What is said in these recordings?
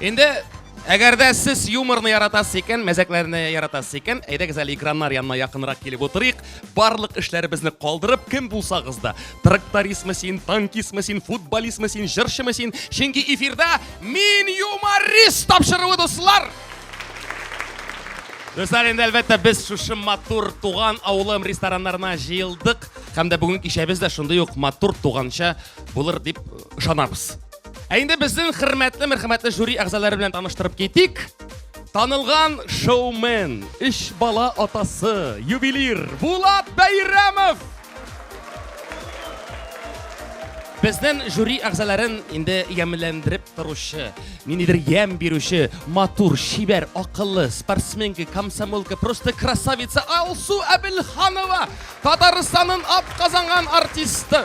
Инде Әгәр дә сез юморны яратасыз икән, мәзәкләрне яратасыз икән, әйдәгез әле экраннар янына якынрак килеп утырыйк. Барлык эшләребезне калдырып, кем булсагыз да, трактористмы син, танкистмы син, футболистмы син, җырчымы син, чөнки эфирда мин юморист тапшыруы дуслар. Дуслар, инде әлбәттә без шушы матур туган авылым рестораннарына җыелдык һәм дә бүгенге кичәбез дә шундый ук матур туганча булыр дип ышанабыз. Ә инде безнең хөрмәтле, мәрхәмәтле жюри әгъзалары белән таныштырып китик. Танылган шоумен, үч бала атасы, ювелир Булат Бәйрәмов. Безнең жюри әгъзаларын инде ямьләндереп торучы, ниндидер ямь бирүче, матур, чибәр, акыллы, спортсменка, комсомолка, просто красавица Алсу Әбелханова, Татарстанның атказанган артисты.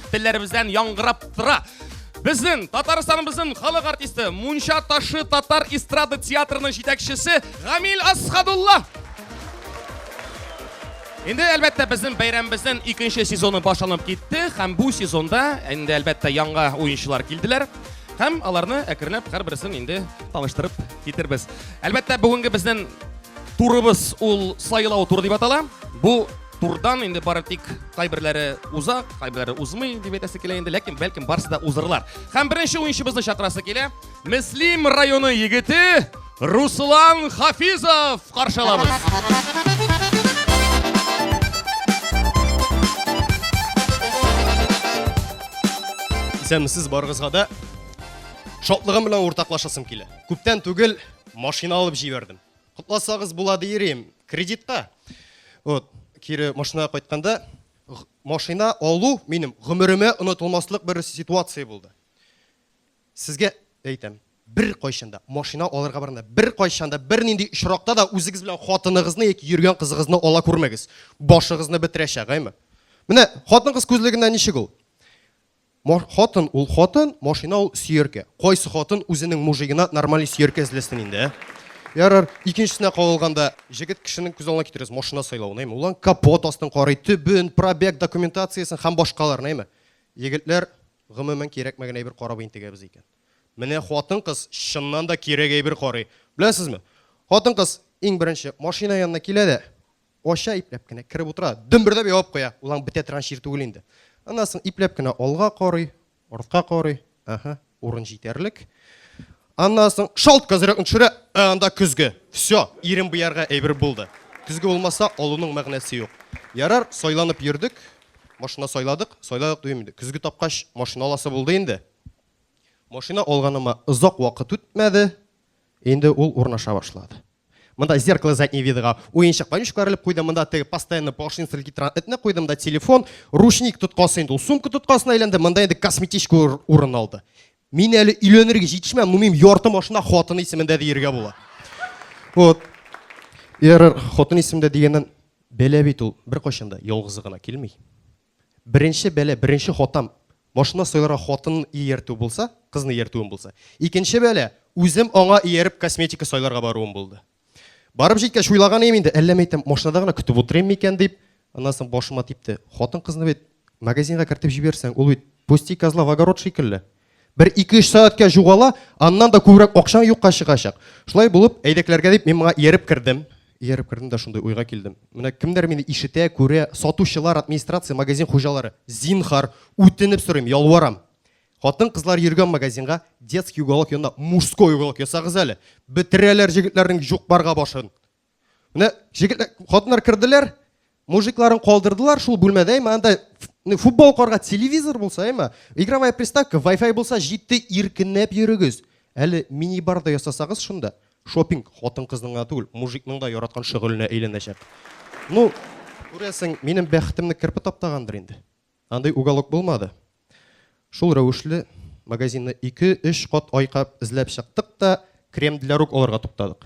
телләребездән яңгырап тора. Безнең Татарстаныбызның халык артисты, Мунча ташы татар эстрада театрының җитәкчесе Гамил Асхадулла. Инде әлбәттә безнең бәйрәмебезнең икенче сезоны башланып китте һәм бу сезонда инде әлбәттә яңа уенчылар килделәр һәм аларны әкренләп һәрберсен инде таныштырып китербез. Әлбәттә бүгенге безнең турыбыз ул сайлау туры дип атала. Бу турдан инде бары тик кайберләре уза, кайберләре узмый дип әйтәсе килә инде, ләкин бәлкем барысы да узырлар. Һәм беренче уенчыбызны чакырасы килә. Мөслим районы егете Руслан Хафизов каршылабыз. Исәнмесез барыгызга да шатлыгым белән уртаклашасым килә. Күптән түгел машина алып җибәрдем. Котласагыз була диерим, кредитка. Вот, кире машинага кайтканда, машина алу минем гомеремә онытылмаслык бер ситуация булды. Сезгә әйтәм, бер кайчанда машина алырга барганда, бер кайчанда бер нинди очракта да үзегез белән хатыныгызны яки йөргән кызыгызны ала күрмәгез. Башыгызны бетерәчәк, әйме? Менә хатын-кыз күзлегеннән ничек ул? Мо хатын ул хатын, машина ул сөяркә. Кайсы хатын үзенең мужигына нормальный сөяркә эзләсен инде, ә? Ярар, икенчесенә кагылганда, җегет кешенең күз алдына китерегез машина сайлавын, әйме? Ул аның капот астын карый, төбен, пробег документациясен һәм башкаларны, әйме? Егетләр, гомумән, кирәкмәгән әйбер карап интегәбез икән. Менә хатын-кыз чыннан да кирәк әйбер карый. Беләсезме? Хатын-кыз, иң беренче, машина янына килә дә, Ача ипләп кенә, кереп утыра, дөмбердәп ябып куя. Ул аң бетә торган чир түгел инде. Аннан соң ипләп кенә алга карый, артка карый. Ага, урын җитәрлек. Аннан соң шалт козырыкны төшерә, ә анда көзге. Все, ирем буярга әйбер булды. Көзге булмаса, алуның мәгънәсе юк. Ярар, сайланып йөрдек, машина сайладык, сайладык дим инде. Көзге тапкач, машина аласы булды инде. Машина алганыма озак вакыт үтмәде, инде ул урнаша башлады. Монда зеркало заднего видога уенчык конючка бәрелеп куйдым. Монда теге постоянно поршень стрелки торган этне куйдым да телефон, ручник тоткасы инде ул сумка тоткасына әйләнде. Монда инде косметичка урын алды. Мин әле өйләнергә җитешмәм, ну минем ярты машина хатын исемендә диергә була. Вот. Ярар, хатын исемендә дигәннән бәла бит ул беркайчан да ялгызы гына килми. Беренче бәла, беренче хатам, машина сайларга хатынын ияртү булса, кызны ияртүем булса. Икенче бәла, үзем аңа ияреп косметика сайларга баруым булды. Барып җиткәч, уйлаган идем инде, әллә мәйтәм, машинада гына көтеп утырыйм микән дип, аннан соң башыма типте. Хатын-кызны бит магазинга кертеп җибәрсәң, ул бит пусти козла в огород шикелле. Бер ике-өч сәгатькә җугала, аннан да күбрәк акчаң юкка чыгачак. Шулай булып, әйдәкләргә дип мин моңа ияреп кердем. Ияреп кердем дә шундый уйга килдем. Менә кемнәр мине ишетә, күрә, сатучылар, администрация, магазин хуҗалары. Зинхар, үтенеп сорыйм, ялварам. Хатын-кызлар йөргән магазинга, детский уголок янына мужской уголок ясагыз әле. Бетерәләр җегетләрнең юк-барга башын. Менә җегетләр, хатыннар керделәр, мужикларын калдырдылар шул бүлмәдә, әйме, анда футбол карга телевизор булса, әйме, игровая приставка, Wi-Fi булса, җитте иркенләп йөрегез. Әле мини-бар да ясасагыз шунда, шопинг хатын-кызның гына түгел, мужикның да яраткан шөгыленә әйләнәчәк. Ну, күрәсең, минем бәхетемне керпе таптагандыр инде. Андый уголок булмады. Шул рәвешле магазинны 2-3 кат айкап эзләп чыктык та, крем для рук алырга туктадык.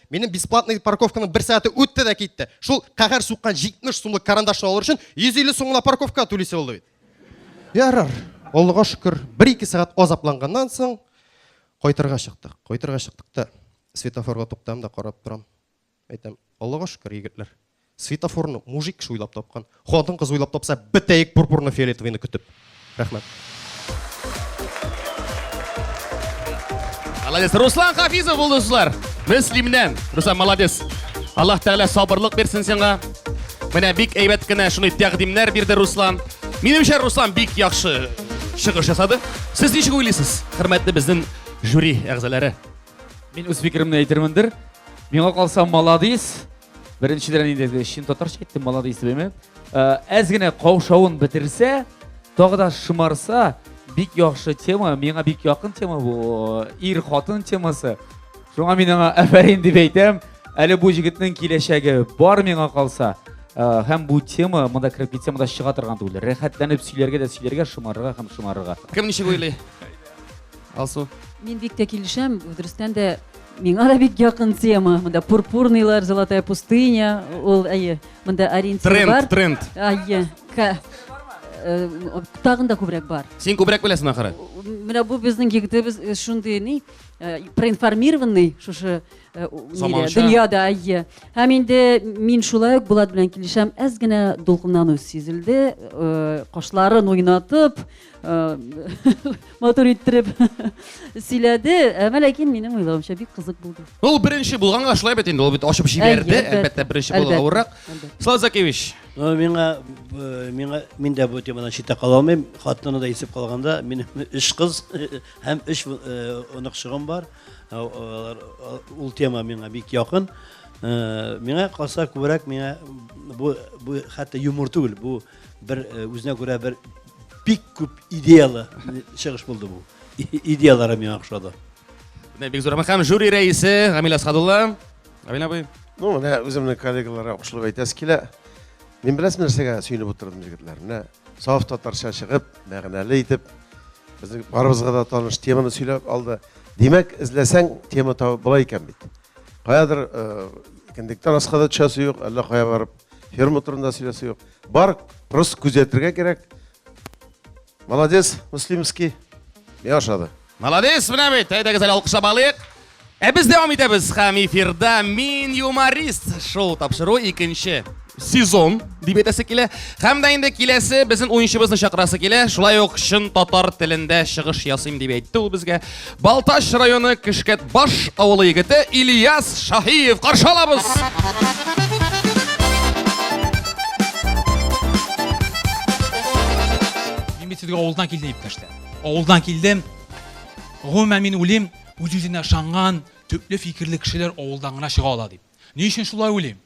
Минем бесплатный парковканың бер сәгате үтте дә китте. Шул каһәр суккан 70 сумлык карандашны алыр өчен 150 сум гына парковка түлисе булды бит. Ярар, Аллага шөкер, бер-ике сәгать азапланганнан соң кайтырга чыктык. Кайтырга чыктык та светофорга туктам да карап торам. Әйтәм, Аллага шөкер, егетләр. Светофорны мужик кеше уйлап тапкан. Хатын кыз уйлап тапса, бетәек пурпурны фиолетовыйны көтеп. Рәхмәт. Молодец. Руслан Хафизов булды дуслар. Мөслимнән. Руслан молодец. Аллаһ Тәгалә сабырлык бирсен сиңа. Менә бик әйбәт кенә шуны тәкъдимнәр бирде Руслан. Минемчә Руслан бик яхшы чыгыш ясады. Сез ничек уйлыйсыз, хөрмәтле безнең жюри әгъзалары? Мин үз фикеремне әйтермендер. Миңа калса, молодец. Беренчедән инде чын татарча әйттем, молодец дибеме? Э, әз генә каушавын бетерсә, тагы да шымарса, бик яхшы тема, миңа бик якын тема бу, ир хатын темасы. Шуңа мин аңа әфәрин дип әйтәм. Әле бу җегетнең киләчәге бар миңа калса. Э, һәм бу тема монда кереп китсә, монда чыга торган түгел. Рәхәтләнеп сөйләргә дә сөйләргә, шымарырга һәм шымарырга. Кем ничек уйлый? Алсу. Мин бик тә килешәм, дөрестән дә миңа да бик якын тема. Монда пурпурныйлар, золотая пустыня, ул әйе, монда ориентир тренд, бар. Тренд, тренд. Әйе. Э, тагын да күбрәк бар. Син күбрәк беләсең ахыры. Менә бу безнең егетебез э, шундый ни э, проинформированный шушы дөньяда әйе. Һәм инде мин шулай ук Булат белән килешәм, әз генә дулкынлану сизелде, кашларын уйнатып, Э, матур иттереп сөйләде әмма ләкин минем уйлавымча бик кызык булды ул беренче булганга шулай бит инде ул бит ачып җибәрде әлбәттә беренче булу авыррак слава закевич ну миңа э, миңа мин дә бу темадан читтә кала алмыйм хатынны да исеп калганда минем өч кыз һәм өч э, оныкчыгым бар ул тема миңа бик якын миңа калса күбрәк миңа бу бу хәтта юмор түгел бу бер э, үзенә күрә бер бик күп идеялы чыгыш булды бу. Идеялары миңа ошады. Менә бик зур һәм жюри рәисе Гамил Асхадулла. Гамил абый. Ну, менә үземнең коллегаларга кушылып әйтәсе килә. Мин беләсем нәрсәгә сөенеп утырдым егетләр. Менә саф татарча чыгып, мәгънәле итеп безнең барыбызга да таныш теманы сөйләп алды. Димәк, эзләсәң тема табып була икән бит. Каядыр э, кендектан аска да төшәсе юк, әллә кая барып ферма турында сөйләсе юк бар просто күзәтергә кирәк молодец муслимский миңа ошады молодец менә бит әйдәгез әле алкышлап алыйк ә без дәвам итәбез һәм эфирда мин юморист шоу тапшыру икенче сезон дип әйтәсе килә һәм дә инде киләсе безнең уенчыбызны чакырасы килә шулай ук чын татар телендә чыгыш ясыйм дип әйтте ул безгә Балтач районы Кешкәтбаш авылы егете Ильяс Шаһиев каршы алабыз. Мин бит сезгә авылдан килдем дип тәштә. Авылдан килдем. Гомумән мин уйлыйм, үз-үзенә ышанган, төпле фикерле кешеләр авылдан гына чыга ала дип. Ни өчен шулай уйлыйм?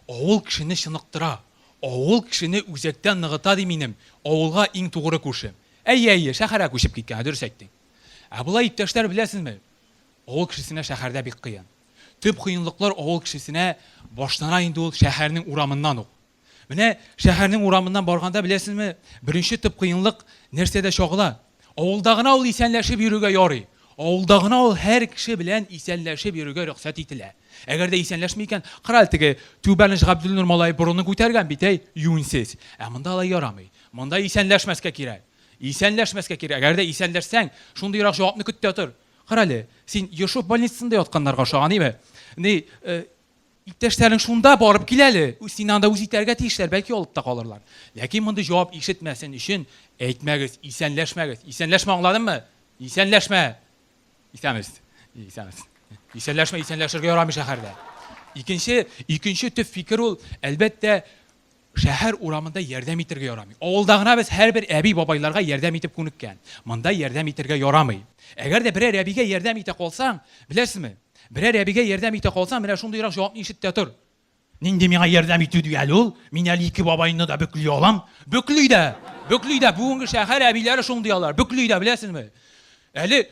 Авыл кешене чыныктыра, авыл кешене үзәктән ныгыта ди минем авылга иң тугры күршем. Әйе, әйе, шәһәргә күчеп киткән, дөрес әйттең. Ә болай, иптәшләр, беләсезме, авыл кешесенә шәһәрдә бик кыен. Төп кыенлыклар авыл кешесенә башлана инде ул шәһәрнең урамыннан ук. Менә шәһәрнең урамыннан барганда, беләсезме, беренче төп кыенлык нәрсәдә чагыла? Авылда гына ул исәнләшеп йөрергә ярый. Авылда гына ул һәр кеше белән исәнләшеп йөрергә рөхсәт ителә. Әгәр дә исәнләшми икән, карале теге Түбәнеч Габделнур малае борынын күтәргән бит, әй, юньсез. Ә монда алай ярамый. Монда исәнләшмәскә кирәк. Исәнләшмәскә кирәк. Әгәр дә исәнләшсәң, шундыйрак җавапны көт тә тор. Карале, син Ешов больницасында ятканнарга ошаган, әйме? Ни, э, иптәшләрең шунда барып кил әле. Син анда үз итәргә тиешләр, бәлки алып та калырлар. Ләкин мондый җавап ишетмәсен өчен әйтмәгез, исәнләшмәгез. Исәнләшмә, аңладыңмы? Исәнләшмә. Исәнбез. Исәнбез. Исәнләшмә, исәнләшергә ярамый шәһәрдә. Икенче, икенче төп фикер ул, әлбәттә, Шәһәр урамында ярдәм итергә ярамый. Авылда гына без һәрбер әби-бабайларга ярдәм итеп күнеккән. Монда ярдәм итергә ярамый. Әгәр дә берәр әбигә ярдәм итә калсаң, беләсезме, берәр әбигә ярдәм итә калсаң, менә шундыйрак җавапны ишет тә тор. Нинди миңа ярдәм итү ди әле ул? Мин әле ике бабайны да бөкли алам. Бөкли дә! Бөкли дә! Бүгенге шәһәр әбиләре шундый алар, бөкли дә, беләсезме. Әле.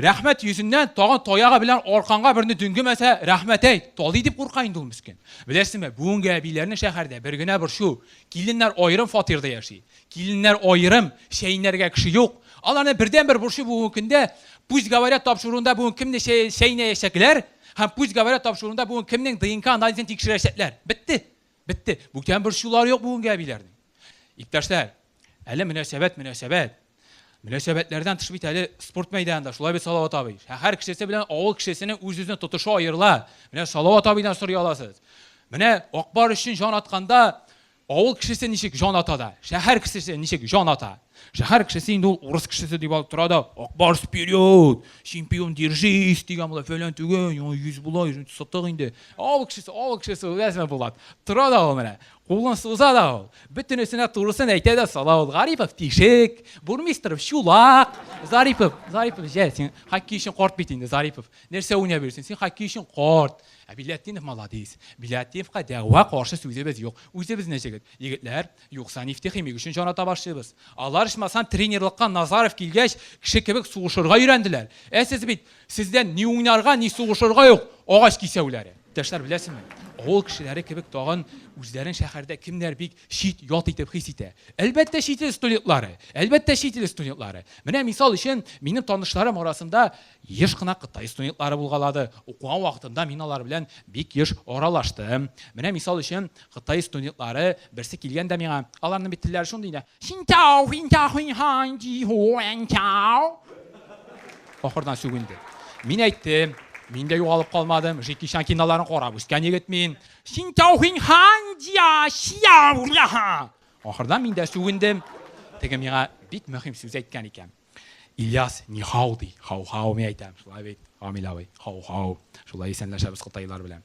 Рәхмәт йөзеннән тагын таягы белән арканга берне дөңгемәсә, рәхмәт әйт, талый дип курка инде ул мескен. Беләсеңме, бүгенге әбиләрнең шәһәрдә бер генә борчу, киленнәр аерым фатирда яши. Киленнәр аерым, чәйнәргә кеше юк. Аларның бердәнбер борчу бүгенге көндә, пусть говорят тапшыруында бүген кемне чәй, чәйнәячәкләр һәм пусть говорят тапшыруында бүген кемнең ДНК анализын тикшерәчәкләр. Бетте. Бетте. Бүтән борчулар юк бүгенге әбиләрнең. Иптәшләр, әле мөнәсәбәт, мөнәсәбәт. Мөнәсәбәтләрдән тыш бит әле спорт мәйданында, шулай бит Салават абый. Шәһәр кешесе белән авыл кешесенең үз-үзенә тотышы аерыла. Менә Салават абыйдан сорый аласыз. Менә Акбар өчен җан атканда авыл кешесе ничек җан ата да, шәһәр кешесе ничек җан ата. Шәһәр кешесе инде ул урыс кешесе дип алып тора да, Акбарс вперед, чемпион держись дигән була, фәлән түгел, яңа йөз була, сытык инде. Авыл кешесе, авыл кешесе, беләсеңме, Булат? Тора да ул менә, кулын суза да ул. Бөтенесенә турысын әйтә дә сала ул. Гарипов тишек, бурмистров чулак. Зарипов, Зарипов, җә, син хоккей өчен карт бит инде, Зарипов. Нәрсә уйнап йөрсең? Син хоккей өчен карт. Ә Биләтдинов молодец. Биләтдиновка дәгъва каршы сүзебез юк. Үзебезнең җегет. Егетләр, Юкса нефтехимик өчен җаната башлыйбыз. Алар ичмасам тренерлыкка Назаров килгәч кеше кебек сугышырга өйрәнделәр. Ә сез бит, сездән ни уйнарга, ни сугышырга юк, агач кисәүләре. Иптәшләр, беләсезме, авыл кешеләре кебек тагын үзләрен шәһәрдә кемнәр бик чит, ят итеп хис итә. Әлбәттә чит ил студентлары! Әлбәттә чит ил студентлары! Менә мисал өчен минем танышларым арасында Еш кына кытай студентлары булгалады. Укыган вакытымда мин алар белән бик еш аралаштым. Менә мисал өчен, кытай студентлары берсе килгән дә миңа, аларның бит телләре шундый инде, Синтяо, финтяо, хинхаң, диху, энтяо. Ахырдан сүгенде. Мин әйттем, мин дә югалып калмадым, Жеки Чан киноларын карап үскән егет мин. Синтяо, хинхаң, дия, сиау, ляха. Ахырдан мин дә сүгендем. Теге миңа бик мөһим сүз әйткән икән. Ильяс, нихау ди, хау-хау мин әйтәм, шулай бит, Камил абый, хау-хау, шулай исәнләшәбез кытайлар белән.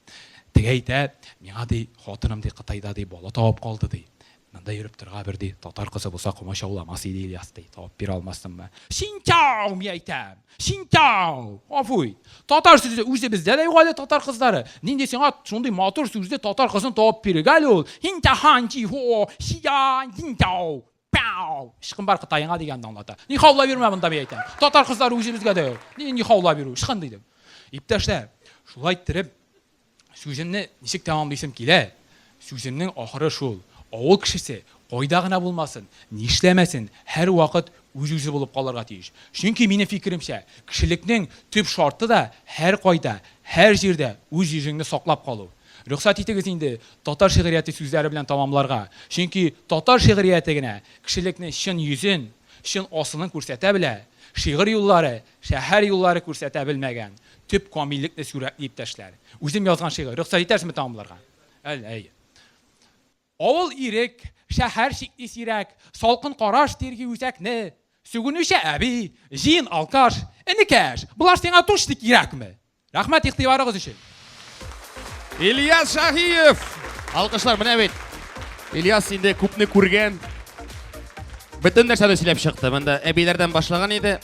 Теге әйтә, миңа ди, хатыным ди Кытайда ди бала табып калды ди. Монда йөреп торга бер ди, татар кызы булса комачауламас иде Ильяс ди, табып бирә алмассыңмы? Синтау мин әйтәм, синтау, афуй. Татар сүзе үзе бездә дә юк әле татар кызлары. Нинди сиңа шундый матур сүзле татар кызын табып бирергә әле ул? Синтахан ди, хо, сида, синтау. Пау! Ычкын бар Кытаеңа дигәнне аңлата. Ни хаулап йөрмә монда, мин әйтәм. Татар кызлары үзебезгә дә. Ни, ни хаулап йөрү, ычкын дидем. Иптәшләр, шулай иттереп, сүземне ничек тәмамлыйсым килә? Сүземнең ахыры шул, авыл кешесе кайда гына булмасын, нишләмәсен, һәрвакыт үз-үзе булып калырга тиеш. Чөнки, минем фикеремчә, кешелекнең төп шарты да һәркайда, һәр җирдә үз йөзеңне саклап калу. Рөхсәт итегез инде татар шигърияте сүзләре белән тәмамларга, чөнки татар шигърияте генә кешелекне чын йөзен, чын асылын күрсәтә белә, шигырь юллары, шәһәр юллары күрсәтә белмәгән төп камиллекне сүрәтли иптәшләр. Үзем язган шигырь, рөхсәт итәрсезме тәмамларга? Әл, әйе. Авыл ирек, шәһәр чикли сирәк, Салкын караш тирги үзәкне. Сүгенүче әби, җыен алкаш, Энекәш, болар сиңа тучны кирәкме? Рәхмәт игътибарыгыз өчен! Ильяс Шаһиев! Алкышлар, менә бит! Ильяс инде күпне күргән. Бөтен нәрсәне сөйләп чыкты. Монда әбиләрдән башлаган иде.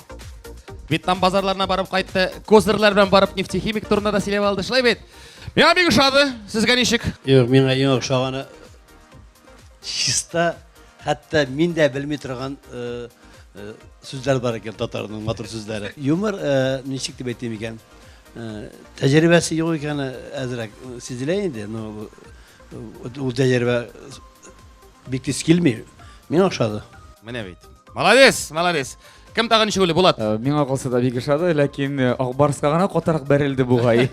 Вьетнам базарларына барып кайтты. Козырлар белән барып нефтехимик турында да сөйләп алды. Шулай бит? Миңа бик ошады. Сезгә ничек? Юк, миңа иң ошаганы чиста, хәтта мин дә белми торган э, э, сүзләр бар икән татарның матур сүзләре. Юмор э, ничек дип әйтим икән? Э, Тәҗрибәсе юк икәне әзрәк э, сизелә инде, но бу, э, ул тәҗрибә бик тиз килми. Миңа ошады. Менә бит. Молодец, молодец. Кем тагы ничегүле, Булат? Э, миңа калса да бик ошады, ләкин э, Акбарска гына катарак бәрелде бугай.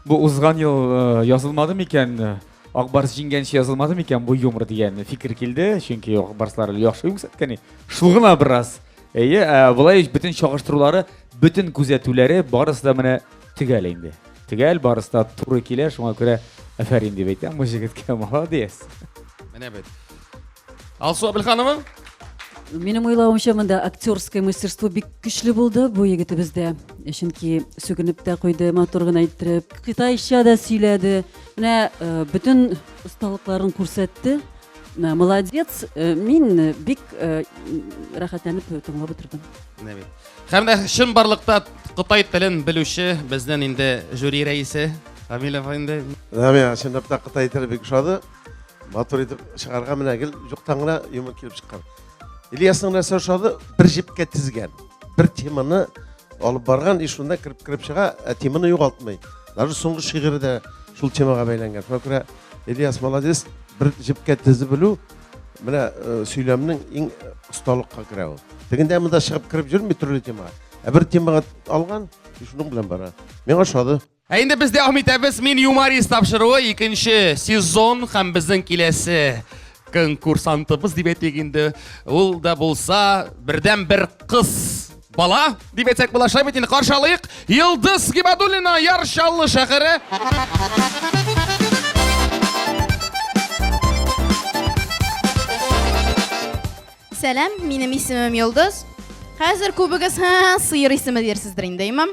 Бу узган ел э, язылмады микән? Акбарс җиңгәнче язылмады микән бу юмор дигән фикер килде, чөнки Акбарслар яхшы күрсәткән. Шул гына бераз. Әйе, болай бөтен чагыштырулары, бөтен күзәтүләре барысы да менә төгәл инде. Төгәл барысы да туры килә, шуңа күрә афәрин дип әйтәм бу җегеткә, молодец. Менә бит. Алсу Абелханова. Минем уйлавымча монда актерское мастерство бик көчле булды бу егетебездә. Чөнки сүгенеп тә куйды, матур гына әйттереп, кытайча да сөйләде. Менә э, бөтен осталыкларын күрсәтте. Э, молодец. Э, мин бик рәхәтләнеп тыңлап утырдым. Менә бит. Һәм дә чын барлыкта кытай телен белүче безнең инде жюри рәисе Рамиль инде. Рамиль, чынлап та кытай теле бик ошады. матур итеп чыгарга менә гел юктан гына юмор килеп чыккан ильясның нәрсә ошады бер җепкә тезгән бер теманы алып барган и шунда кереп кереп чыга ә теманы югалтмый даже соңгы шигыры да шул темага бәйләнгән шуңа күрә ильяс молодец бер җепкә тезеп белү менә э, сөйләмнең иң осталыкка керә ул тегендә монда чыгып кереп йөрми төрле темага ә бер темага алган и шуның белән бара миңа ошады Ә инде без дәвам итәбез. Мин юморист тапшыруы икенче сезон һәм безнең киләсе конкурсантыбыз дип әйтик инде. Ул да булса бердәм бер кыз бала дип әйтсәк була. Шулай бит инде каршы алыйк. Йылдыз Гибадуллина Яр Чаллы шәһәре. Сәлам, минем исемем Йолдыз. Хәзер күбегез һә сыер исеме дирсездер инде, имам.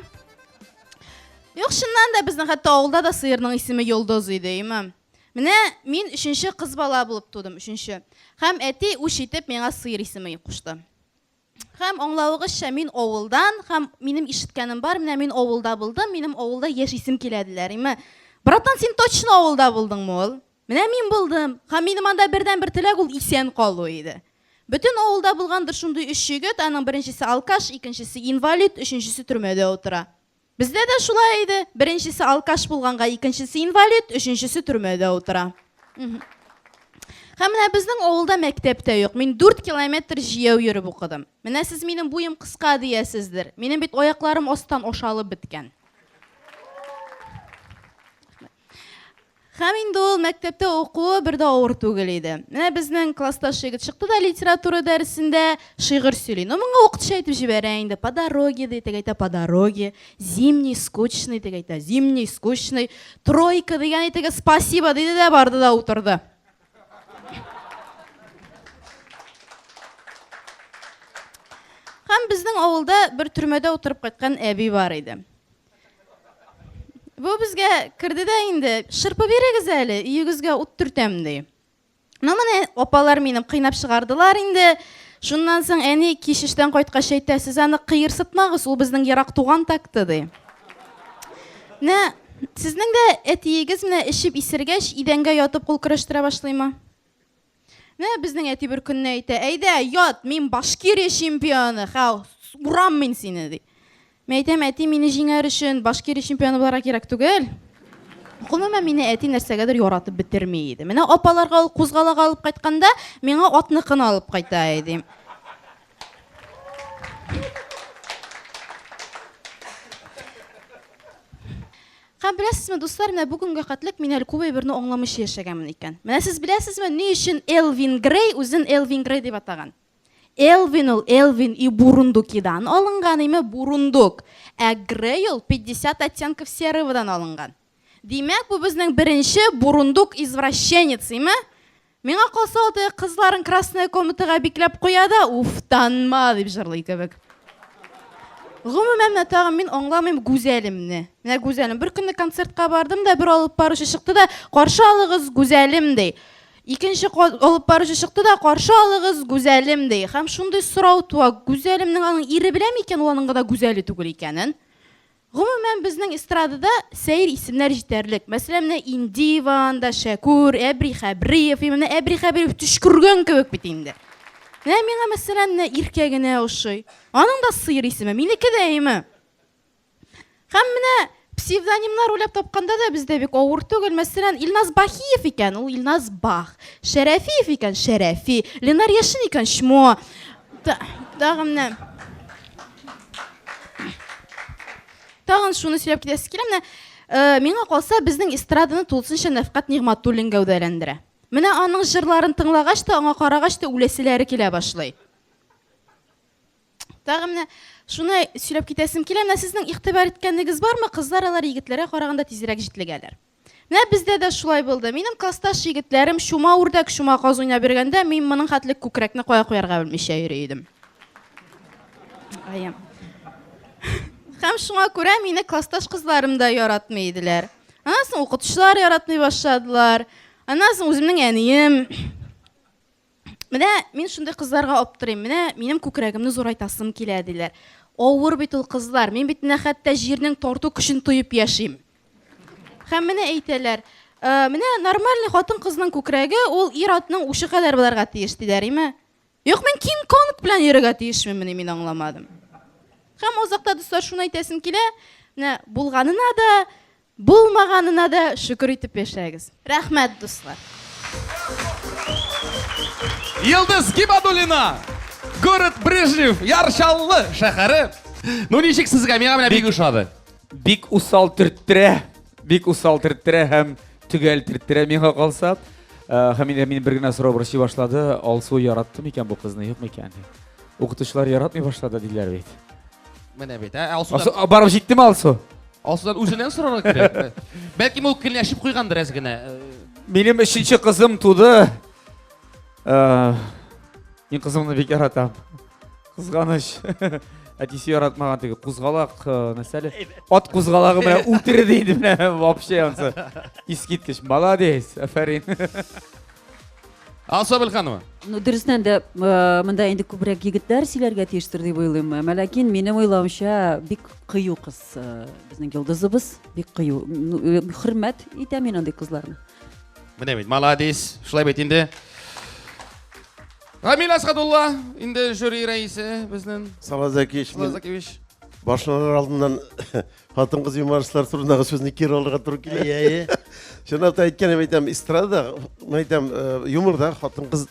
Юк, чыннан да безнең хәтта авылда да сыерның исеме Йолдыз иде, имам. Менә мин өченче кыз бала булып тудым, өченче. Хәм әти үч итеп миңа сыер исеме кушты. Хәм аңлавыгызча мин авылдан, хәм минем ишеткәнем бар, менә мин авылда булдым, минем авылда яшь исем киләделәр. Име, братан, син точно авылда булдыңмы ул? Менә мин булдым. Һәм минем анда бердәнбер теләк ул исән калу иде. Бөтен авылда булгандыр шундый өч егет, аның беренчесе алкаш, икенчесе инвалид, өченчесе төрмәдә утыра. Бездә дә шулай иде, беренчесе алкаш булганга, икенчесе инвалид, өченчесе төрмәдә утыра. Һәм менә безнең авылда мәктәп тә юк. Мин 4 километр җияү йөреп укыдым. Менә сез минем буем кыска диясездер. Минем бит аякларым астан ашалып беткән. Һәм инде ул мәктәптә укуы бер дә авыр түгел иде. Менә безнең классташ егет чыкты да литература дәресендә шигырь сөйли. Ну моңа укытучы әйтеп җибәрә инде, по дороге ди, теге әйтә по дороге, зимний скучный, теге әйтә зимний скучный, тройка дигән әйтеге спасибо диде дә барды да утырды. Һәм безнең авылда бер төрмәдә утырып кайткан әби бар иде. Бу безгә керде дә инде, шырпы бирегез әле, өегезгә ут төртәм, ди. Ну, менә апалар мине кыйнап чыгардылар инде. Шуннан соң әни кич эштән кайткач әйтә, сез аны кыерсытмагыз, ул безнең ерак туган такты, ди. Менә сезнең дә әтиегез менә эчеп исергәч, идәнгә ятып кул көрәштерә башлыймы? Менә безнең әти бер көнне әйтә, әйдә, ят, мин Башкирия чемпионы, хә, урам мин сине, ди. Мин әйтәм, әти мине җиңәр өчен Башкирия чемпионы буларга кирәк түгел. Гомумән мине әти нәрсәгәдер яратып бетерми иде. Менә апаларга ул кузгалага алып кайтканда, миңа атныкын алып кайта иде. Һәм беләсезме, дуслар, менә бу көнгә катлек мин әле күп әйберне аңламыйча яшәгәнмен икән. Менә сез беләсезме, ни өчен Элвин Грей үзен Элвин Грей дип атаган? Элвин ул Элвин и Бурундукидан алынган, име, бурундук, ә Грей ул 50 оттенков сероводан алынган. Димәк, бу безнең беренче бурундук-извращенец, име? Миңа калса, ул теге кызларын красная комнатага бикләп куя да, уф, танма дип җырлый кебек. Гомумән, менә тагын мин аңламыйм Гүзәлемне. Менә Гүзәлем. Бер көнне концертка бардым да, бер алып баручы чыкты да, каршы алыгыз Гүзәлем ди. Икенче алып баручы чыкты да, каршы алыгыз Гүзәлем ди. Һәм шундый сорау туа, Гүзәлемнең аның ире беләме икән, ул аның гына Гүзәле түгел икәнен? Гомумән, безнең эстрадада сәер исемнәр җитәрлек. Мәсәлән, менә Индиева анда, Шәкүр, Әбри Хәбриев. И менә Әбри Хәбриев төчкергән кебек бит инде. Менә миңа, мәсәлән, менә Иркә генә ошый. Аның да сыер исеме, минеке дә име? Һәм менә псевдонимнар уйлап тапканда да бездә бик авыр түгел. Мәсәлән, Илназ Бахиев икән, ул Илназ Бах. Шәрәфиев икән, Шәрәфи. Ленар Яшин икән, Чмо. Та, тагын менә тагын шуны сөйләп китәсе килә менә э, миңа калса безнең эстраданы тулысынча Нәфкат Нигъматуллин гәүдәләндерә. Менә аның җырларын тыңлагач та, аңа карагач та үләселәре килә башлый. Тагын менә шуны сөйләп китәсем килә. Менә сезнең игътибар иткәнегез бармы? Кызлар алар егетләргә караганда тизрәк җитлегәләр. Менә бездә дә шулай булды. Минем классташ егетләрем чума үрдәк, чума каз уйнап йөргәндә, мин моның хәтле күкрәкне кая куярга белмичә йөри идем. Аем. Һәм шуңа күрә мине классташ кызларым да яратмый иделәр. Аннан соң укытучылар яратмый башладылар. Аннан соң үземнең әнием Менә мин шундый кызларга аптырыйм. Менә минем күкрәгемне зурайтасым килә, диләр. Авыр бит ул кызлар. Мин бит менә хәтта җирнең тарту көчен тоеп яшим. Һәм менә әйтәләр, «Э, менә нормальный хатын-кызның күкрәге ул ир-атның учы кадәр буларга тиеш, диләр, име? Юк, мин Кинг-Конг белән йөрергә тиешмени, мин аңламадым. Һәм азакта, дуслар, шуны әйтәсем килә, менә булганына да Булмаганына да шөкер итеп яшәгез. Рәхмәт, дуслар. Елдыз Гибадуллина, город Брежнев, Яр Чаллы шәһәре. Ну ничек сезгә? Миңа менә бик ошады. Бик усал төрттерә, бик усал төрттерә һәм төгәл төрттерә миңа калса. Э, һәм инде мин бер генә сорау борчый башлады, Алсу яратты микән бу кызны, юк микән? Укытучылар яратмый башлады диләр бит. Менә бит, ә Алсу. Алсу барып җиттеме Алсу? Асылдан үзеннән сорарга кирәк. Бәлки ул кенләшеп куйгандыр әз генә. Минем өченче кызым туды. Э, мин кызымны бик яратам. Кызганыч. Әтисе яратмаган теге кузгалак, э, нәрсәле? Ат кузгалагы менә үтерде инде менә вообще ансы. Искиткеч, молодец, афәрин. Алсабел ханымы? Ну, дөрестән дә э, монда инде күбрәк егетләр сөйләргә тиештер дип уйлыйм. Ә Ләкин минем уйлавымча бик кыю кыз э, безнең йолдызыбыз, бик кыю. Ну, э, Хөрмәт итәм мин андый кызларны. Менә бит, молодец. Шулай бит инде. Рамил Асхадулла, инде жюри рәисе безнең. Салазакич, Салазакевич. башланыр алдыннан Хатын-кыз юмористлар турындагы сүзне кире алырга туры килә. Әйе, әйе. Чынлап та әйткәндә әйтәм, эстрада, әйтәм, э, юморда хатын-кыз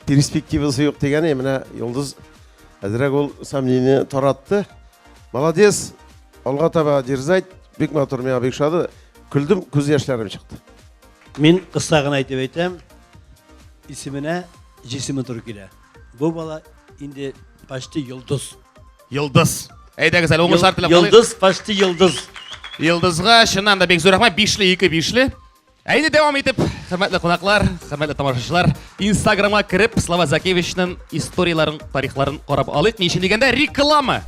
перспективасы юк дигәне, менә Йолдыз әзрәк ул сомнение таратты. Молодец. Алга таба дерзать. Бик матур, миңа бик шады. Көлдем, күз яшьләрем чыкты. Мин кыска гына әйтеп әйтәм, исеменә җисеме туры килә. Бу бала инде почти йолдыз. Йолдыз. Әйдәгез әле уңышлар теләп калыйк. Йолдыз, почти йолдыз. Йолдызга чыннан да бик зур рәхмәт. Бишле, ике бишле. Ә инде дәвам итеп, хөрмәтле кунаклар, хөрмәтле тамашачылар, Инстаграмга кереп, Слава Закевичның историяләрен, тарихларын карап алыйк. Ни өчен дигәндә, реклама.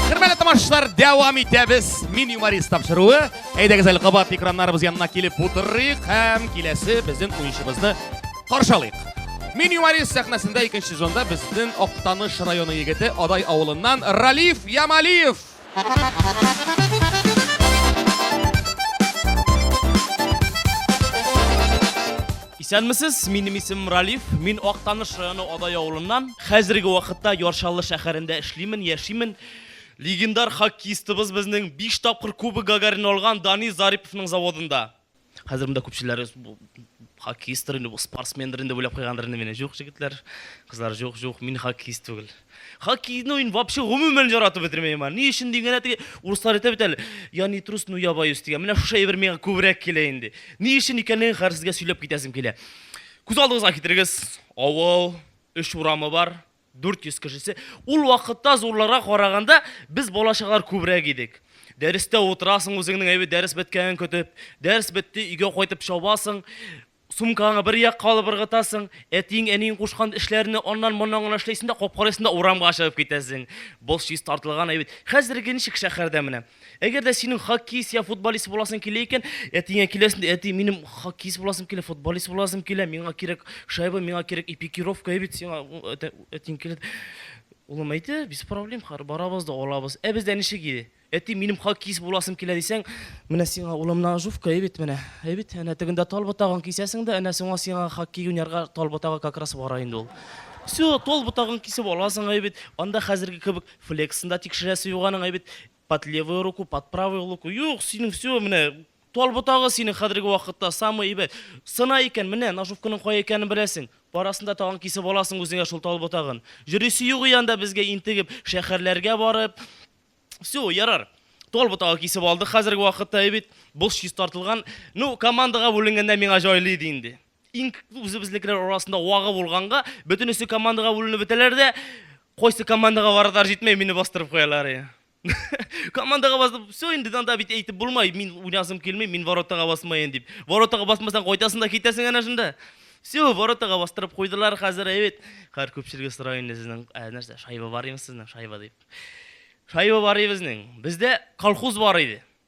Хөрмәтле тамашачылар, дәвам итәбез. Мин юморист тапшыруы. Әйдәгез әле кабат экраннарыбыз янына килеп утырыйк һәм киләсе безнең уенчыбызны каршалыйк. Мин юморист сәхнәсендә икенче сезонда безнең Актаныш районы егете Адай авылыннан Ралиф Ямалиев. Исәнмесез, минем исем Ралиф, мин Актаныш районы Адай авылыннан. Хәзерге вакытта Яршаллы шәһәрендә эшлимен, яшимен. Легендар хоккеистыбыз безнең 5 тапкыр Кубок Гагарин алган Дани Зариповның заводында. Хәзер монда күпчеләре хоккеисттыр инде, спортсмендер инде уйлап куйгандыр инде мине. Юк, җегетләр, кызлар, юк, юк, мин хоккеист түгел. Хоккейны мин вообще гомумән яратып бетермәйм. Ни өчен дигәндә теге урыслар әйтә бит әле, я не трус, но я боюсь дигән. Менә шушы әйбер миңа күбрәк килә инде. Ни өчен икәнлеген хәзер сезгә сөйләп китәсем килә. Күз алдыгызга китерегез, авыл, өч урамы бар, 400 кешесе. Ул вакытта зурларга караганда без балачаклар күбрәк идек. Дәрестә утырасың үзеңнең әйбәт дәрес беткәнен көтеп. Дәрес бетте, өйгә кайтып чабасың. Сумкаңа бер як калып ыргытасың, әтиең, әниең кушкан эшләрне аннан моннан гына эшләйсең дә, капкарыйсың да урамга чыгып китәсең. Бос чис тартылган әйбәт. Хәзерге ничек шәһәрдә менә? Әгәр дә синең хоккеист я футболист буласың килә икән, әтиңә киләсең дә, әти, минем хоккеист буласым килә, футболист буласым килә, миңа кирәк шайба, миңа кирәк эпикировка, ә бит сиңа әтиң килә. Улым әйтә, без проблем, хар, барабыз да алабыз. Ә бездә ничек иде? Әти, минем хоккеист буласым килә дисәң, менә сиңа улым ножовка, ә бит менә, ә бит әнә тегендә тал ботагын кисәсең дә, әнә соңа сиңа хоккей уйнарга тал ботагы как раз бара инде ул. Все, тол ботагын кисеп аласың, ә бит анда хәзерге кебек Флексын да тикшерәсе юк аның, әй бит, под левую руку, под правую луку. Юк, синең все, менә тал ботагы синең хәзерге вакытта самый әйбәт. Сына икән, менә ножовканың кая икәнен беләсең. Барасын да тагын кисеп аласың үзеңә шул тал ботагын. Йөрисе юк и анда безгә интегеп, шәһәрләргә барып. Все, ярар. Тал ботагы кисеп алдык хәзерге вакытта, әй бит, бул чистартылган. Ну, командага бүленгәндә миңа җайлы иде инде. Иң күп үзебезнекеләр арасында вагы булганга, бөтенесе командага бүленеп бетәләр дә, кайсы командага барадар җитмәй, мине бастырып куялар. Е. командаға басып, все инде анда бит әйтеп булмай, мин уйнасым килмей, мин воротага басмайын дип. Воротага басмасаң кайтасың да китәсең әнә шунда. Все, воротага бастырып куйдылар хәзер, әйбит. Хәр күпчелеге сорай инде сезнең, ә, нәрсә, шайба бар инде сезнең, шайба дип. Шайба бар инде безнең. Бездә колхоз бар иде.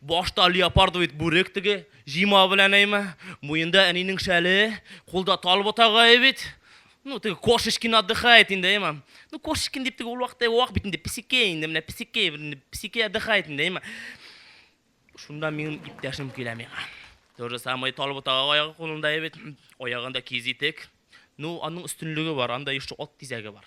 Башта леопардовый бүрек теге, җыйма белән әйме, муенда әнинең шәле, кулда тал ботагае бит. Ну, теге кошечкин отдыхает инде, әйме. Ну, кошечкин дип теге ул вакытта вак бит инде, песикей инде, менә песикей, инде песикей отдыхает инде, әйме. Шунда минем иптәшем килә миңа. То же самое тал ботагы аягы кулында бит, аягында кизитек. Ну, аның өстенлеге бар, анда еще ат тизәге бар.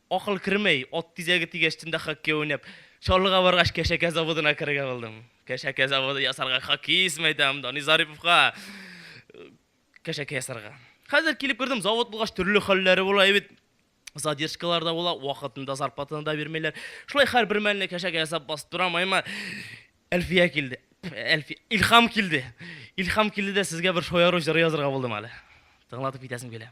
Акыл кермәй, ат тизәге тигәч төнлә хоккей уйнап, Чаллыга баргач Кәшәкә заводына керергә булдым. Кәшәкә заводы ясарга хоккеист мәйдан, Дани Зариповка Кәшәкә ясарга. Хәзер килеп кердем, завод булгач төрле хәлләре була и бит. Задержкалар да була, вакытында зарплатаны да бирмиләр. Шулай хәр бер мәлне Кәшәкә ясап басып торам, аймар. Әлфия килде. Әлфи... Илхам килде. Илхам килде дә сезгә бер шояру җыры язырга булдым әле. Тыңлатып китәсем килә.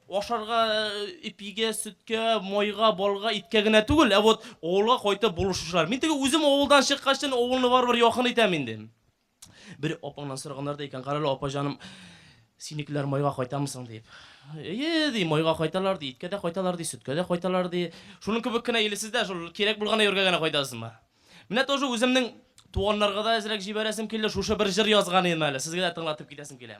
Ашарга, ипигә, сөткә, майга, балга, иткә генә түгел, ә вот авылга кайтып булышучылар. Мин теге үзем авылдан чыккачтын авылны барыбер якын итәм инде. Бер апаңнан сораганнар да икән, карале, апа җаным, синекеләр майга кайтамы соң дип. Әйе, ди, майга кайталар, ди, иткә дә кайталар, ди, сөткә дә кайталар, ди. Шуның кебек кенә или сез дә шул кирәк булган әйбергә генә кайтасызмы? Менә тоже үземнең туганнарга да әзрәк җибәрәсем килде, шушы бер җыр язган идем әле, сезгә дә тыңлатып китәсем килә.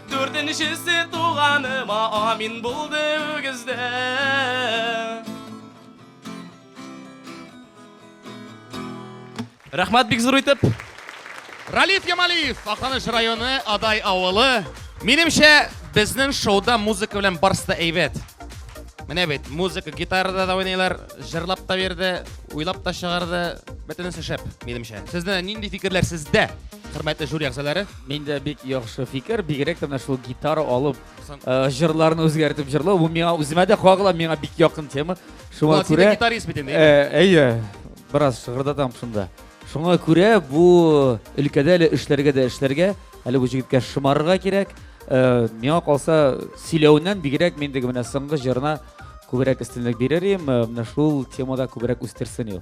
Дүртенчесе туганыма амин булды үгездә. Рәхмәт бик зур итеп. Ралиф Ямалиев, Аканыш районы, Адай авылы. Минемчә, безнең шоуда музыка белән барысы да әйбәт. Менә бит, музыка, гитарада да уйныйлар, җырлап та бирде, уйлап та чыгарды. Бөтенесе шәп, минемчә. Сездә нинди фикерләр сездә, хөрмәтле жюри әгъзалары? Миндә бик яхшы фикер, бигрәк тә менә шул гитара алып, э, җырларны үзгәртеп җырлау, бу миңа үземә дә кагыла, миңа бик якын тема. Шуңа Владимир күрә гитарист бит инде. Э, әйе, бераз шыгырдатам шунда. Шуңа күрә бу өлкәдә әле эшләргә дә эшләргә, әле бу җегеткә шымарырга кирәк. Э, Миңа калса, сөйләвеннән бигрәк мин теге менә соңгы җырына күбрәк өстенлек бирер идем, э, менә шул темада күбрәк үстерсен ул.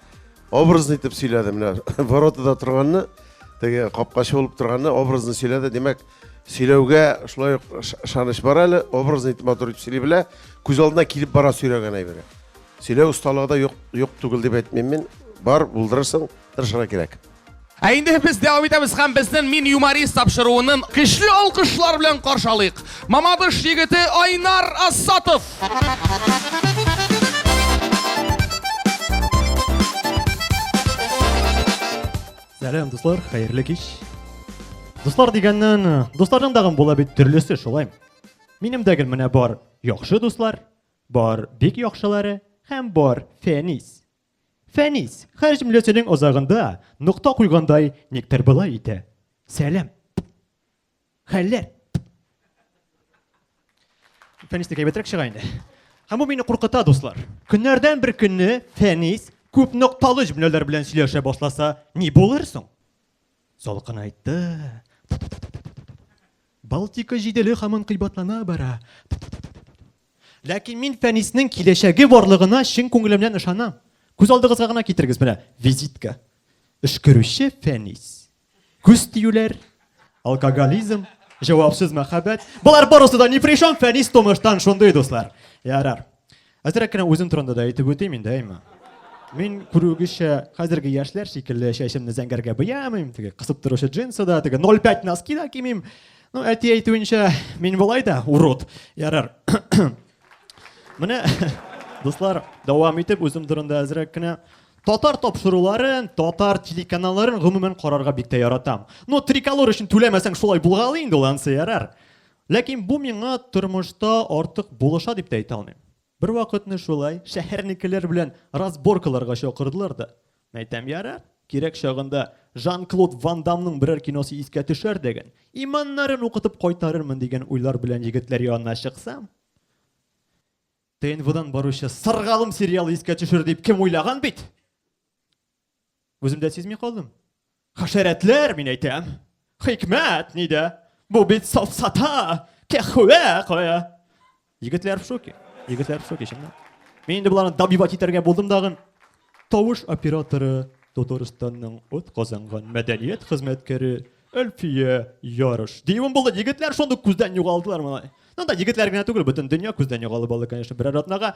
Образный итеп сөйләде менә воротада торганны, теге капкачы булып торганны образный сөйләде. Димәк, сөйләүгә шулай ук ышаныч бар әле, образный итеп матур итеп сөйли белә, күз алдына килеп бара сөйләгән әйбере. Сөйләү осталыгы да юк, юк түгел дип әйтмим мин. Бар, булдырырсың, тырышырга кирәк. Ә инде без дәвам итәбез һәм безнең Мин юморист тапшыруынын көчле алкышлар белән каршы алыйк. Мамадыш егете Айнар Асатов. Сәлам, дуслар, хәерле кич. Дуслар дигәннән, дусларның дагын була бит төрлесе шулай. Минем дә гел менә бар яхшы дуслар, бар бик яхшылары һәм бар фәнис. Фәнис, хәл җөмләсенең азагында нокта куйгандай, никтер болай итә. Сәлам. Хәлләр. Фәнис тә әйбәтрәк чыга инде. Һәм бу мине куркыта, дуслар. Көннәрдән бер көнне Фәнис күп нокталы җөмләләр белән сөйләшә башласа, ни булыр соң? Салкын айтты. Балтика җиделе һаман кыйбатлана бара. Ләкин мин Фәниснең киләчәге барлыгына чын күңелемнән ышанам. Күз алдыгызга гына китерегез, менә визитка. Өшкерүче Фәнис. Күз тиюләр, алкоголизм, җавапсыз мәхәббәт. Болар барысы да ни пришом, Фәнис тумыштан шундый, дуслар. Ярар. Әзрәк кенә үзем турында да әйтеп үтим инде, әйме. Мин күрүегезчә, хәзерге яшьләр шикелле чәчемне зәңгәргә буямыйм, теге кысып торучы джинсы да, теге 05 носки да кимим. Ну, әти әйтүенчә, мин болай да урод. Ярар. Менә, дуслар, дәвам итеп үзем турында әзрәк кенә Татар тапшыруларын, татар телеканалларын гомумән карарга бик тә яратам. Ну, триколор өчен түләмәсәң шулай булгалый инде ул ансы ярар. Ләкин бу миңа тормышта артык булыша дип тә әйтә алмыйм. Бервакытны шулай шәһәрнекеләр белән разборкаларга чакырдылар да. Әйтәм, ярар, кирәк чагында Жан-Клод Ван Дамның берәр киносы искә төшәр дигән, иманнарын укытып кайтарырмын дигән уйлар белән егетләр янына чыксам, ТНВдан баручы Сыргалым сериалы искә төшер дип кем уйлаган бит? Үзем дә сизми калдым. Хәшәрәтләр, мин әйтәм. Хикмәт нидә? Бу бит сафсата, кәхвә кая. Егетләр в шоке. Егетләр в шоке, чыннан. Мин инде боларны дабивать итәргә булдым дагын. Тавыш операторы Татарстанның от казанган мәдәният хезмәткәре Әлфия Ярыш. Диюем булды, егетләр шундук күздән югалдылар малай. Ну да егетләр генә түгел, бөтен дөнья күздән югалып алды, конечно, берәр атнага.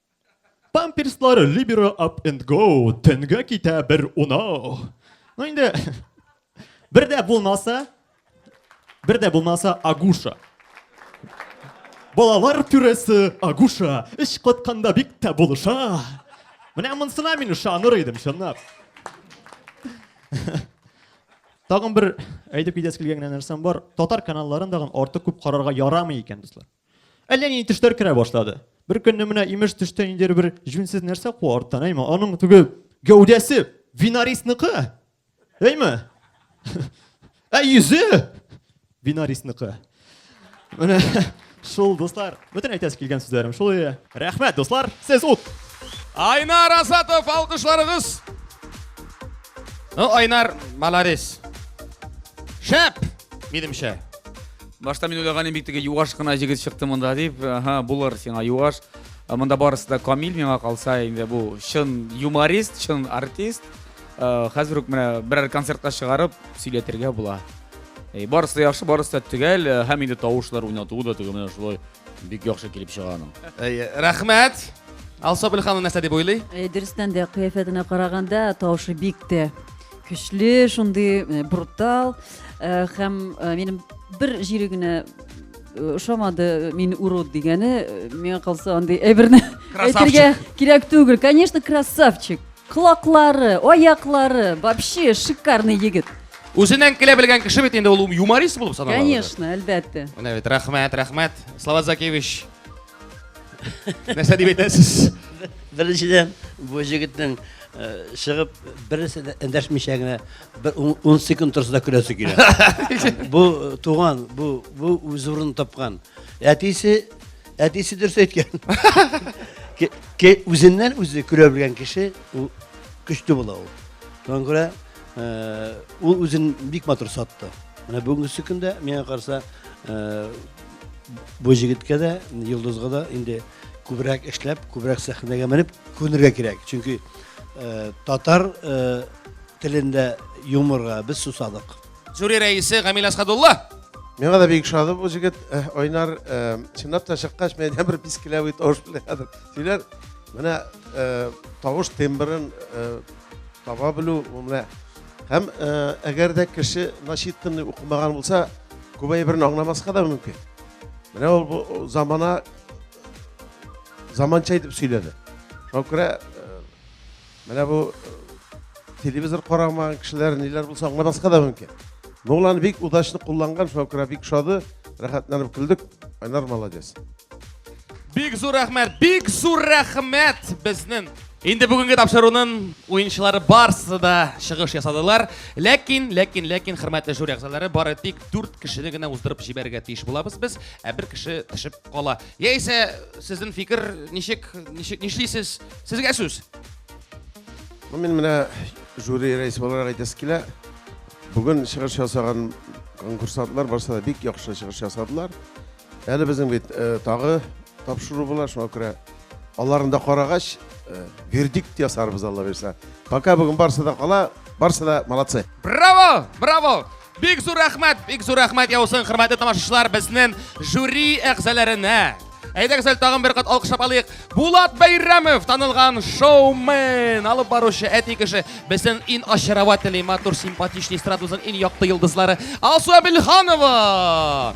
Памперслар Libero Up and Go, төнгә китә бер унау. Ну инде бер дә булмаса, бер дә булмаса Агуша. Балалар түрәсе Агуша, эш катканда бик тә булыша. Менә монсына мин ышаныр идем, чынлап. Тагын бер әйтеп китәсе килгән нәрсәм бар. Татар каналларын тагын артык күп карарга ярамый икән, дуслар. Әллә нинди төшләр керә башлады. Бер көнне менә имеш төштә ниндидер бер җүнсез нәрсә куа арттан, әйме, аның теге гәүдәсе Винарисныкы. Әйме? Ә йөзе Винарисныкы. Менә шул, дуслар, бөтен әйтәсе килгән сүзләрем шул иде. Рәхмәт, дуслар, сез ут. Айнар Асатов, алкышларыгыз. Ну, Айнар, молодец. Шәп, минемчә. Башта мин уйлаган идем бик теге юаш кына җегет чыкты монда дип. Ага, булыр сиңа юаш. Ә Монда барысы да камил миңа калса инде бу чын юморист, чын артист. Э, Хәзер үк менә берәр концертка чыгарып сөйләтергә була. Э, Барысы да яхшы, барысы да төгәл э, һәм инде тавышлар уйнатуы да теге менә шулай бик яхшы килеп чыга аның. Әйе, рәхмәт. Алсабел ханым нәрсә дип уйлый? Э, Дөрестән дә кыяфәтенә караганда тавышы бик тә көчле шундый э, брутал э, һәм э, минем бер җире генә ошамады мин урод дигәне миңа калса андый әйберне әйтергә кирәк түгел конечно красавчик колаклары аяклары вообще шикарный егет Үзеннән килә белгән кеше бит инде ул юморист булып санала. Конечно, әлбәттә. Менә бит рәхмәт, рәхмәт. Слава Закевич Нәрсә дип әйтәсез? Беренчедән, бу җегетнең чыгып бересе дә эндәшмичә генә бер 10 секунд торса да көләсе килә. Бу туган, бу бу үз урынын тапкан. Әтисе әтисе дөрес әйткән. Ке үзеннән үзе көлә белгән кеше ул көчле була ул. Шуңа күрә ул үзен бик матур сатты. Менә бүгенге көндә миңа карса бу җегеткә дә, Йолдызга да инде күбрәк эшләп, күбрәк сәхнәгә менеп күнергә кирәк. Чөнки э, татар э, телендә юморга без сусадык. Жюри рәисе Гамил Асхадулла. Миңа да бик шады бу җегет э, Айнар э, чынлап та чыккач менә бер пискеләве тавыш белән хәзер сөйләр. Менә э, тавыш тембрын э, таба белү, менә Һәм әгәр дә кеше начитанный укымаган булса, күп әйберне аңламаска да мөмкин. Менә ул бу замана заманча итеп сөйләде. Шуңа күрә менә бу телевизор карамаган кешеләр ниләр булса аңламаска да мөмкин. Нолан бик удачно кулланган, шуңа күрә бик шады, рәхәтләнеп көлдек. Айнар молодец. Бик зур рәхмәт, бик зур рәхмәт безнең. Инде бүгенге тапшыруның уенчылары барсы да чыгыш ясадылар. Ләкин, ләкин, ләкин, хөрмәтле жюри әгъзалары, бары тик 4 кешене генә уздырып җибәрергә тиеш булабыз без, ә бер кеше төшеп кала. Яисә сезнең фикер ничек, ничек нишлисез? Сезгә сүз. Ну, мин менә жюри рәисе буларак әйтәсе килә. Бүген чыгыш ясаган конкурсантлар барсы да бик яхшы чыгыш ясадылар. Әле безнең бит э, тагы тапшыру була, шуңа күрә аларын да карагач, э, вердикт ясарбыз Алла бирсә. Пока бүген барсы да кала, барсы да молодцы. Браво! Браво! Бик зур рәхмәт, бик зур рәхмәт яусын, хөрмәтле тамашачылар, безнең жюри әгъзаларына. Әйдәгез әле тагын бер кат алкышлап алыйк. Булат Бәйрәмов, танылган шоумен, алып баручы әти кеше. Безнең ин очаровательный, матур, симпатичный эстрадабызның ин якты йолдызлары Алсу Абелханова.